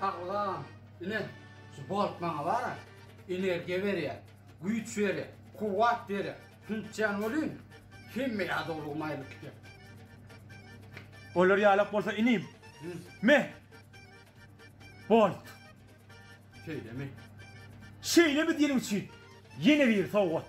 Sagbolam. Ine, şu bolt maňa bar-a, energiýa berýär, güýç berýär, kuwwat berýär. Hüntjan welin, hemme ýadawlygymy aýryp gidýär. Bolar ýalak bolsa inim. Me! Bolt. Şeýlemi? Şeýlemi diýeniň üçin ýene bir sowgat.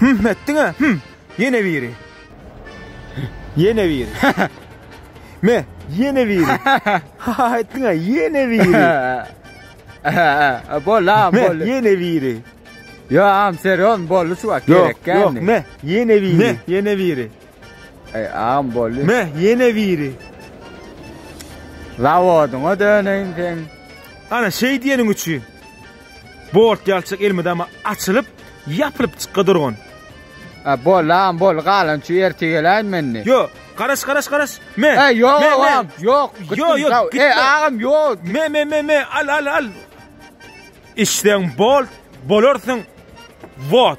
Hümm etdiň-ä, hümm. Ýene biri. Ýene biri. Me, ýene biri. Ha-ha etdiň-ä, ýene biri. Bol-a, bol. Ýene biri. Ýa, am, seron, boldy şu wagt gerek geldi. Ýok, ýok, me, ýene biri. Me, ýene biri. Eý, am, boldy. Me, ýene biri. Zawodyňa döneýin sen. Ana, şeý diýeniň üçin. Bort ýalçyk elmydama açylyp, ýapylyp çykadyrgyn. A, boldy, agam, boldy, galan üçi ertir geläýin men indi. Ýo, garaş, garaş, garaş. Me. E, ýok, me, me. agam, ýok, gitdim, Ýo, ýo, sag- gitme. E, agam, ýok. Me, me, me, me, al, al, al. Içseň bol, bolarsyň. Wot.